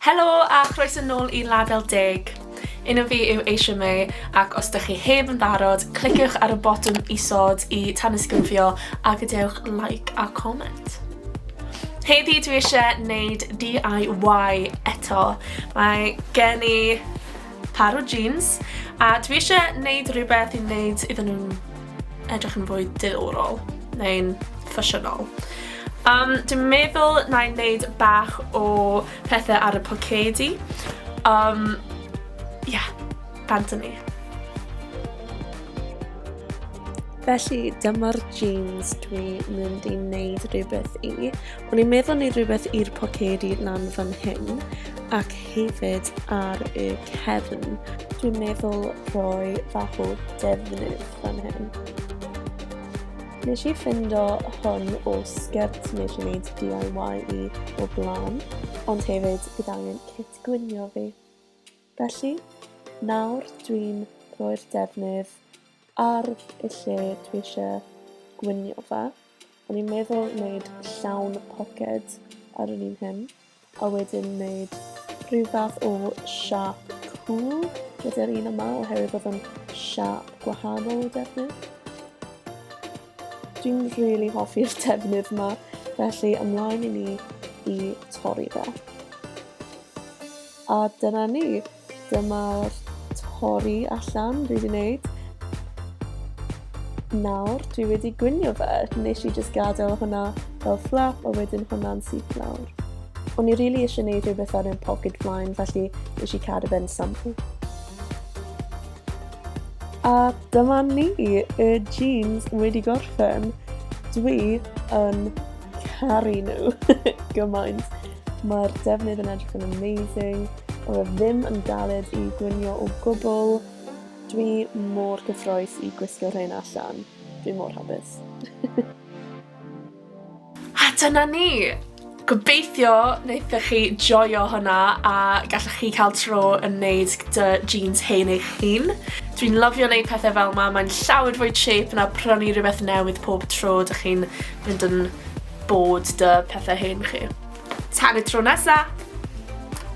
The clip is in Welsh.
Helo a chroeso nôl i Label Deg! Enw fi yw Eisiau May ac os dych chi heb yn barod, cliciwch ar y botwm isod i tanysgrifio a gadewch like a comment. Heddi dwi eisiau neud DIY eto. Mae gen i par o jeans a dwi eisiau neud rhywbeth i wneud iddyn nhw'n edrych yn fwy diddorol neu'n ffasiynol. Um, dwi'n meddwl na i wneud bach o pethau ar y pocedi. Um, yeah, bant ni. Felly dyma'r jeans dwi'n mynd i wneud rhywbeth i. O'n i'n meddwl wneud rhywbeth i'r pocedi lan fan hyn ac hefyd ar y cefn. Dwi'n meddwl rhoi bach o defnydd fan hyn. Nes i ffind o hwn o sgert nes i wneud DIY i o blaen, ond hefyd bydd angen cit gwynio fi. Felly, nawr dwi'n rhoi'r defnydd ar y lle dwi eisiau gwynio fe. O'n i'n meddwl wneud llawn poced ar yr un hyn, a wedyn wneud rhyw fath o siap cŵl gyda'r un yma oherwydd bod o'n siap gwahanol o defnydd. Dwi'n rili really hoffi'r defnydd yma, felly ymlaen i ni i torri fe. A dyna ni. Dyma'r torri allan dwi wedi wneud. Nawr, dwi wedi gwynio fe. Nes i just gadael hwnna fel flap a wedyn hwnna'n syth lawr. O'n i rili really eisiau gwneud rhywbeth ar ein pocket flaen, felly nes i cadw fe'n sample. A dyma ni, y jeans wedi gorffen. Dwi yn caru nhw gymaint. Mae'r defnydd yn edrych yn amazing, ond mae ddim yn galed i gwynio o gwbl. Dwi mor gyffroes i gwisgo rhain allan. Dwi mor hapus. a dyna ni! Gobeithio wnaethoch chi joio hwnna a gallwch chi cael tro yn neud dy jeans hen eich hun. Dwi'n lyfio wneud pethau fel ma, mae'n llawer fwy chip na prynu rhywbeth newydd pob tro dych chi'n Fynd yn bod 'da pethe hen chi. Tan y tro nesa!